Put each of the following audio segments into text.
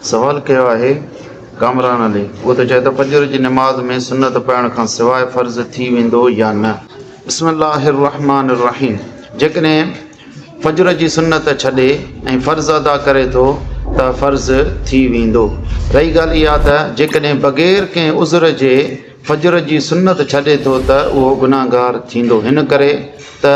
سوال ڪيو آهي ڪامران علي اهو ته چئي ته فجر جي نماز ۾ سنت پڙهڻ کان سواء فرض ٿي ويندو يا نه. بسم الله الرحمٰن الرحيم جيڪڏهن فجر جي سنت ڇڏي ۽ فرض ادا ڪري ٿو ته فرض ٿي ويندو رهي ڳالهه اها ته جيڪڏهن بغير ڪنهن عذر جي فجر جي سنت ڇڏي ٿو ته اهو گناهگار ٿيندو هن ڪري ته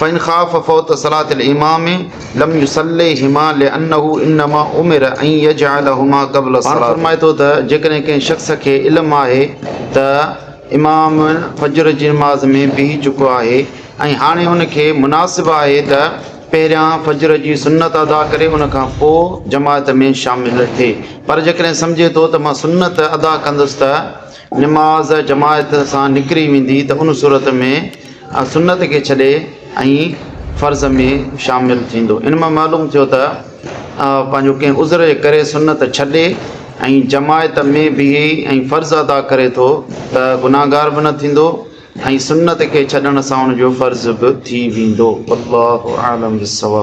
فان خاف فوت صلاة الامام لم يصليهما لانه انما امر ان يجعلهما قبل الصلاة. پاڻ فرمائي ٿو ته جيڪڏهن ڪنهن شخص کي علم آهي ته امام فجر جي نماز ۾ بيهي چڪو آهي ۽ هاڻي ان کي مناسب آهي ته پهريان فجر جي سنت ادا ڪري ان کان پوء جماعت ۾ شامل ٿئي پر جيڪڏهن سمجهي ٿو ته مان سنت ادا ڪندس ته نماز جماعت سان نڪري ويندي ته ان صورت ۾ سنت کي ڇڏي ۽ فرض ۾ شامل ٿيندو. ان مان معلوم ٿيو ته پنهنجو ڪنهن عذر جي ڪري سنت ڇڏي ۽ جماعت ۾ بيهي ۽ فرض ادا ڪري ٿو ته گناهگار به نه ٿيندو ۽ سنت کي ڇڏڻ سان ان جو فرض به ٿي ويندو. والله اعلم بالصواب.